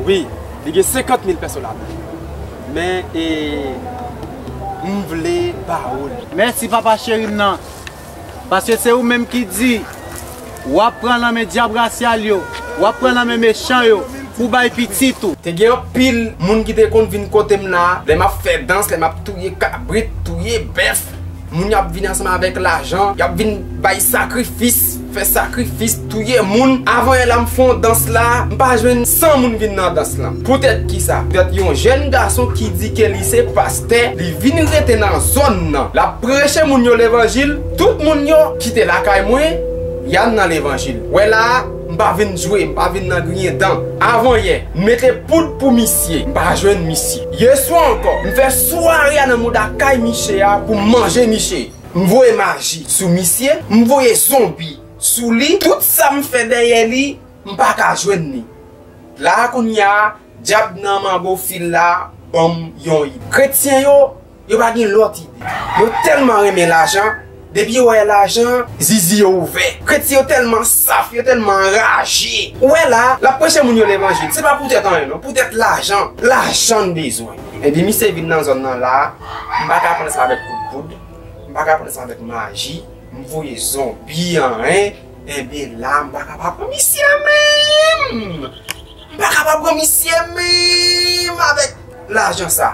Wi, li gen 50 mil pèson ladan. Men e m vle ba ou l. Mèsi papa cheri m nan. Paske se ou menm ki di w ap pran nan men dyab rasyal yo, w ap pran nan men mechan yo pou w bay pitit ou. Te gen anpil moun ki te konn vin kote m la lè m ap fè dans, lè m ap touye kabrit, touye bèf. Moun y ap vin ansanm avèk lajan, y ap vin bay sakrifis, fè sakrifis, touye moun. Avan yè la m fè yon dans la, m pa jwenn 100 moun vin nan dans lan. Poutèt ki sa? Poutèt yon jèn gason ki di ke li se pastè, li vin rete nan zòn nan. L ap preche moun yo levanjil, tout moun yo kite lakay mwen, y al nan levanjil. Wè la a? M pa vin jwe, m pa vin nan griyen dan. Avan yè, m mete poud pou misye, m pa jwenn misye. Yè swa ankò, m fè sware a nan mouda kay miche a pou m manje miche. M voye maji sou misye, m voye zonbi sou li, tout sa m fè dèyè li, m pa ka jwenn li. La a kounya, dyab nan manbo fil la ban m yon ide. Kretyen yo Yo pa gen lòt ide. Yo tèlman renmen lajan, depi yo wè lajan, zizi yo ouvè. Kretyen yo tèlman saf, yo tèlman anraje. Ou wè la, l ap preche moun yo levanjil, se pa poutèt anyen non, poutèt lajan. Lajan n bezwen. Epi misye vin nan zòn nan la, m pa ka pran sa avèk kout poud, m pa ka pran sa avèk maji, m voye zonbi an en, enben la m pa ka pa pran misye menm! M pa ka pa pran misye menm avèk lajan sa.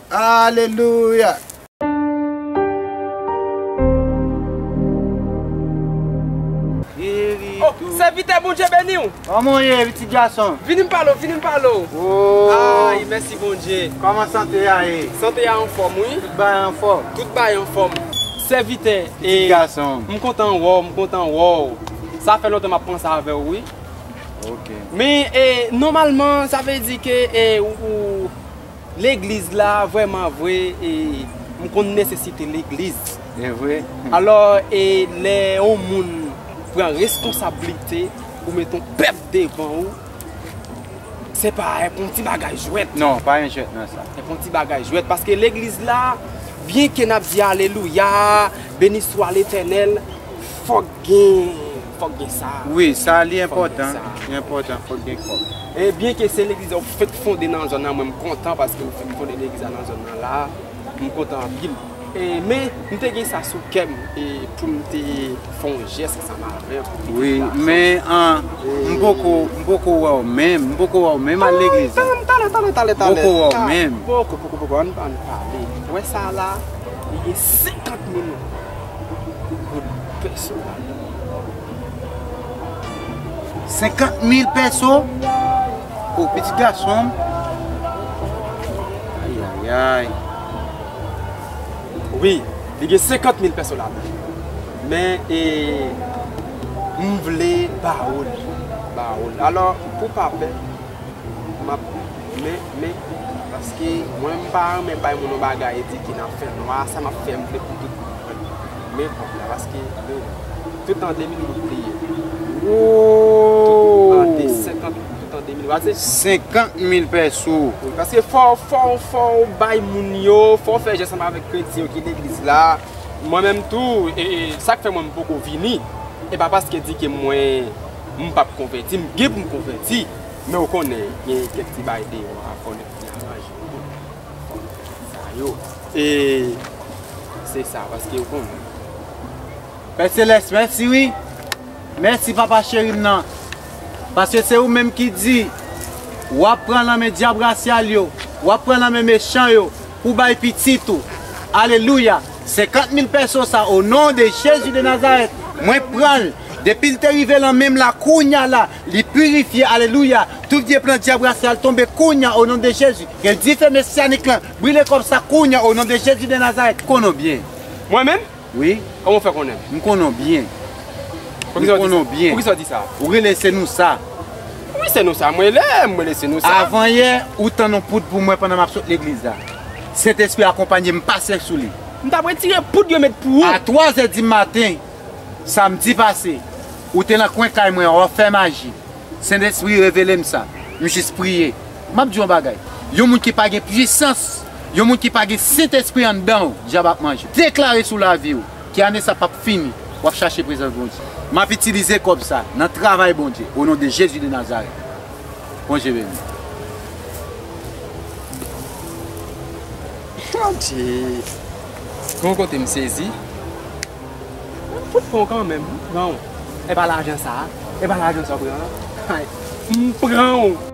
Alelouya! O, sèvitè Bondye beniw! Kòman w ye pitit gason? Vini m pale w, vini m pale w! O! Ay, mèsi Bondye! Kòman sante a ye? Sante a anfòm wi! Tout bagay anfòm? Tout bagay anfòm! Sèvitè, e, m kontan wè w, m kontan wè w! Sa fè lontan m ap panse avè w wi! Ok! Men, e, nòmalman, sa vle di ke, e, ou, ou. Legliz la vreman vre e m konn nesesite legliz. E vre. Alò e lè yon moun pran reskonsablite pou met yon pèp devan ou, se pa e pou yon ti bagay jwèt. Non, pa gen jwèt nan sa. E pou yon ti bagay jwèt. Paske legliz la, byen ke n ap di alelouya, beniswa letènèl, fòk gen. Fòk gen sa. Wi, sa li enpòtan, li enpòtan fòk gen kòb. E byen ke se legliz ou fèk fonde nan zòn nan mwen m kontan paske ou fèk fonde legliz la nan zòn nan la m kontan anpil. E men m te gen sa sou kèm e poum te fon jès ansanm avèw pou fete Wi, men an m poko m poko wèw menm, m poko wèw menm al legliz la. Tann tann tann tann tann M poko wèw menm. Poko poko poko ann pale. Wè sa la li gen 50 min. 50 mil pèso pou pitit gason m. Ayayayy. Wi, li gen 50 mil pèso ladan l. Men e m vle ba ou l. Ba ou l. Alò, pou w pa pè. Map men men paske mwen m pa renmen bay moun yon bagay e di ki nan fè nwa a sa map fè m vle pou tout moun wèl men kòb la paske bon tout an 2000 goud li ye tout an 50 goud tout an 2000 wap di 50 mil pès ou wi paske fò fò ou bay moun yo fò ou fè jès ansanm avèk kretyen yo ki legliz la mwen menm tou e sak fè mwen m poko vini e pa paske di ke mwen. m pap konvèti m gen pou m konvèti men ou konnen gen kèk ti bagay deyò a konnen pou li aranje ou tou fòk ou fè sa yo e se sa paske ou konnen Pè Selès mèsi wi mèsi papa cheri m nan paske se ou menm ki di wap pran nan men dyab rasyal yo wap pran nan men mechan yo pou bay pitit ou alelouya 50 mil pèso sa o non de jezi de nazarèt mwen pranl depil te rive lan menm la kounya la li pirifye alelouya tout vye plan dyab rase al tonbe kounya o non de jezi gen dife mesyanik lan brile kòb sa kounya o non de jezi de nazarèt m konnen w byen Mwen menm? Wi Kòman w fè konnen m? M konnen w byen M konnen w byen Poukisa w di sa? Ou rele se nou sa? Wi se nou sa m rele m rele se nou sa Avan yè ou tann on poud pou mwen pandan map sot legliz la. Sentespri akonpanye m pase sou li. M tap retire poud yo met pou ou. A twa zè di maten Samdi pase ou te nan kwen kay mwen an wap fè maji Sentespri revele m sa M jis priye Map di w yon bagay Yon moun ki pa gen pwisans Yon moun ki pa gen Sentespri anndan w Dyab ap manje Deklare sou lavi w Ke ane sa pap fini Wap chache prezans Bondye Map itilize kòb sa Nan travay Bondye O non de Jezi de Nazarèt Bondye beni. Bondye. Gon kote m sezi. M fout pran w kanmenm. M pran w. E pa lajan sa a. E pa lajan sa w pran an. Hay. M pran w.